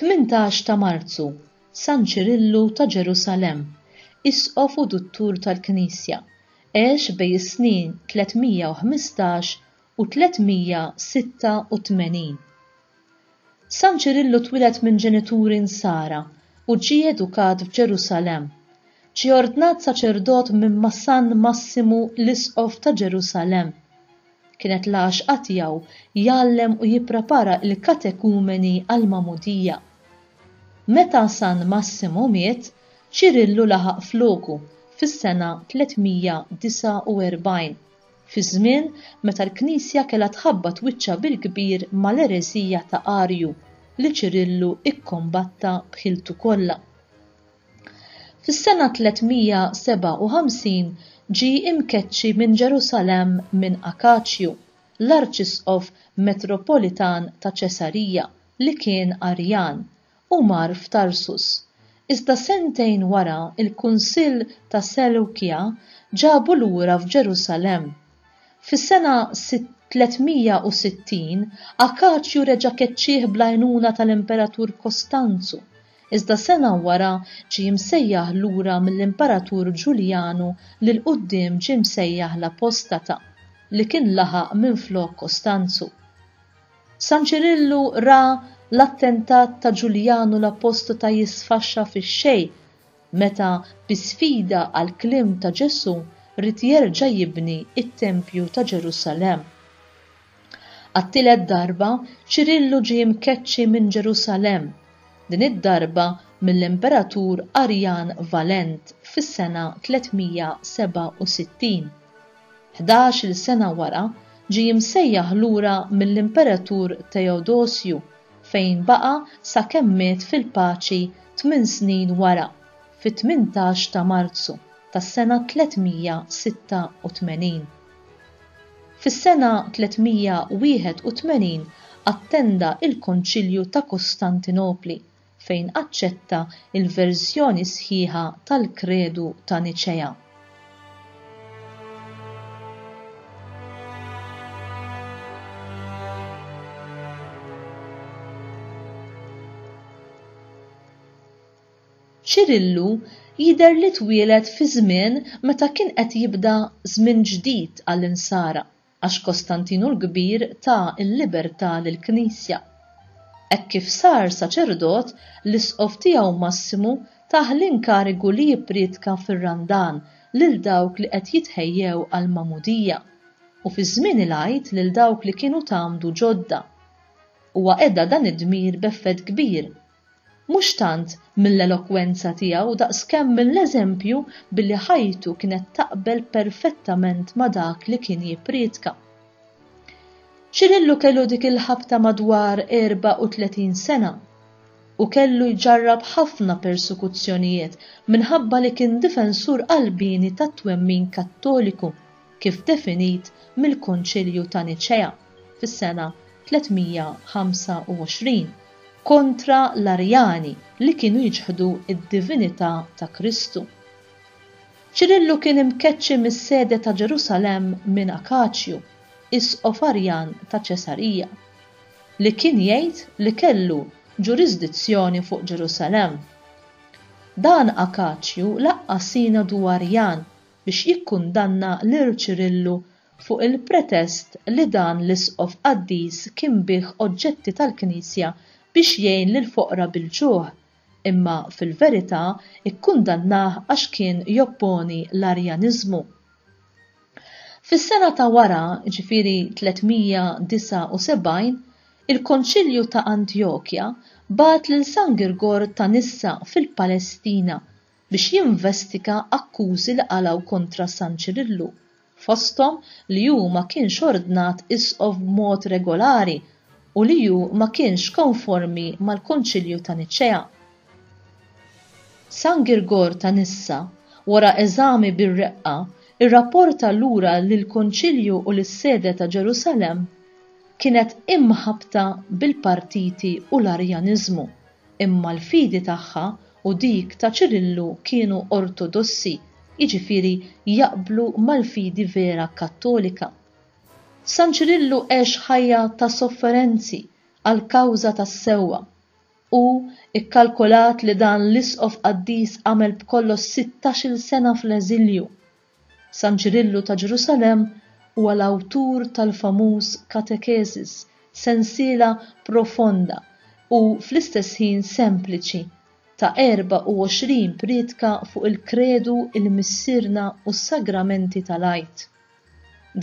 Tmintax ta' Marzu, San Ċirillu ta' Ġerusalemm, Isqof u Duttur tal-Knisja, għex bej is-snin 315 u 386. San Ċirillu twieled minn ġenituri Nsara u ġie edukat f'Ġerusalemm. Ġie ordnat saċerdot minn ma' San Massimu l-Isqof ta' Ġerusalemm. Kienet l-għaxqa tiegħu jgħallem u jipprepara l-katekumeni għall-magħmudija. Meta San Massimu miet, Ċirillu laħaq floku fis-sena 349. fi żmien meta l-Knisja kellha tħabbat wiċċha bil-kbir mal-ereżija ta' Arju li Ċirillu kkombatta b'ħiltu kollha. Fis-sena 357 ġie mkeċċi minn Ġerusalemm minn Akaċju, l-arċisqof metropolitan ta' Ċesarija li kien Arjan, Hu mar f'Tarsus, iżda sentejn wara l-Kunsill ta' Selewkija ġabu lura f'Ġerusalemm. Fis-sena 360, Akaċju reġa' keċċieh bl-għajnuna tal-Imperatur Kostanzu, iżda sena wara ġie msejjaħ lura mill-Imperatur Ġuljanu li 'l quddiem ġie msejjaħ l-apostata, li kien laħaq minflok Kostanzu. San Ċirillu ra l-attentat ta' Ġuljanu l-Apostota jisfaxxa fix-xejn meta bi sfida għall-kliem ta' Ġesù ried jerġa' jibni t-tempju ta' Ġerusalemm. Għat-tielet darba, Ċirillu ġie mkeċċi minn Ġerusalemm, din id-darba mill-imperatur Arjan Valent fis-sena 367. Ħdax-il sena wara, ġie imsejjaħ lura mill-Imperatur Teodosju, fejn baqa' sakemm miet fil-paċi tmien snin wara, fit-tmintax ta' Marzu tas-sena 386. Fis-sena 381 attenda il-Konċilju ta' Kostantinopli, fejn aċċetta l-verżjoni sħiħa tal-Kredu ta' Niċea. Ċirillu jidher li twieled fi żmien meta kien qed jibda żmien ġdid għall-Insara. għax Kostantinu l-Kbir ta l-libertà lill-Knisja. Hekk kif sar saċerdot, l-isqof tiegħu Massimu tah l-inkarigu li jippriedka fir-Randan lil dawk li qed jitħejjew għall-magħmudija, u fi żmien il-Għid lil dawk li kienu tgħammdu ġodda. Huwa qeda dan id-dmir b'effett kbir. mhux tant mill-elokwenza tiegħu daqskemm mill-eżempju billi ħajtu kienet taqbel perfettament ma' dak li kien jipprietka. Ċirillu kellu dik il-ħabta madwar 34 sena u kellu jġarrab ħafna persekuzzjonijiet minħabba li kien difensur qalbieni tat-twemmin Kattoliku kif definit mill-Konċilju ta' Niċea fis-sena 325, kontra l-Arjani li kienu jiċħdu d-divinità ta' Kristu. Ċirillu kien imkeċċi mis-sede ta' Ġerusalemm minn Akaċju, isqof Arjan ta' Ċesarija, li kien jgħid li kellu ġurisdizzjoni fuq Ġerusalemm. Dan Akaċju laqqa' sinodu Arjan biex jikkundanna lil Ċirillu fuq il-pretest li dan l-isqof qaddis kien biegħ oġġetti tal-Knisja biex jgħin lill-foqra bil-ġuħ, imma fil-verità kkundannah għax kien jopponi l-Arjaniżmu. Fis-sena ta' wara, jiġifieri 379, il-Konċilju ta' Antjokja bagħat lil San Girgor ta' Nissa fil-Palestina biex jinvestiga akkużi li qalgħu kontra San Ċirillu, fosthom li hu ma kienx ordnat Isqof b'mod regolari u li hu ma kienx konformi mal-Konċilju ta' Niċċea. San Girgor ta' Nissa, wara eżami bir-reqqa, irrapporta lura li l-Konċilju u lis-Sede ta' Ġerusalemm kienet imħabbta bil-partiti u l-Arjaniżmu. imma l-fidi tagħha u dik ta' Ċirillu kienu ortodossi, jiġifieri jaqblu mal-fidi vera Kattolika. San Ċirillu għex ħajja ta' sofferenzi għall-kawża tas-sewwa. Hu kkalkolat li dan l-isqof qaddis għamel b'kollox sittax-il sena fl-eżilju San Ċirillu ta' Ġerusalemm huwa l-awtur tal-famuż Katekesis, sensiela profonda u fl-istess ħin sempliċi, ta' 24 priedka fuq il-Kredu, il-Missierna u s-Sagramenti tal-Għid.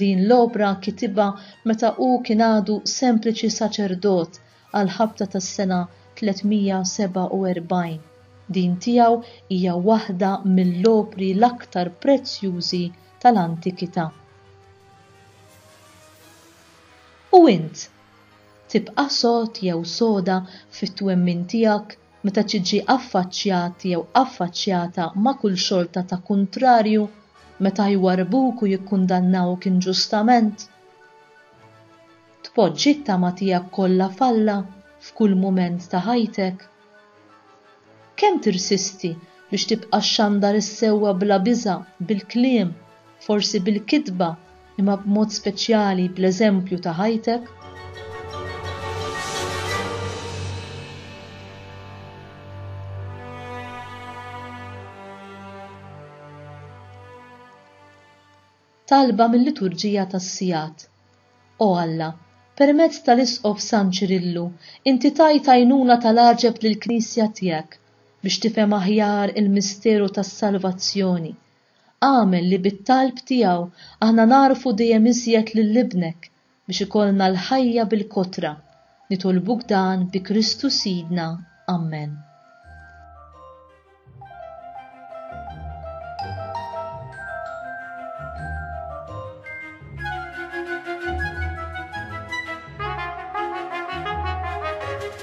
Din l-opra kitibha meta hu kien għadu sempliċi saċerdot għall-ħabta tas-sena 347. Din tiegħu hija waħda mill-opri l-aktar prezzjużi tal-antikità. U int? Tibqa' sod jew soda fit-twemmin tiegħek meta tiġi affaċċjat jew affaċċjata ma' kull xorta ta' kuntrarju, meta jwarrbuk u jikkundannawk inġustament? Tpoġġi t-tama tiegħek kollha f'Alla f'kull mument ta' ħajtek? Kemm tirsisti biex tibqa' xxandar is-sewwa bla biża' bil-kliem, forsi bil-kitba, imma b'mod speċjali bl-eżempju ta' ħajtek? Talba mil-Liturġija tas-Sigħat. O Alla, permezz tal-Isqof San Ċirillu inti tajt għajnuna tal-għaġeb lill-Knisja tiegħek biex tifhem aħjar il-misteru tas-salvazzjoni. Agħmel li bit-talb tiegħu aħna nagħrfu dejjem iżjed lil Ibnek, biex ikollna l-ħajja bil-kotra, nitolbuk dan bi Kristu Sidna. Ammen.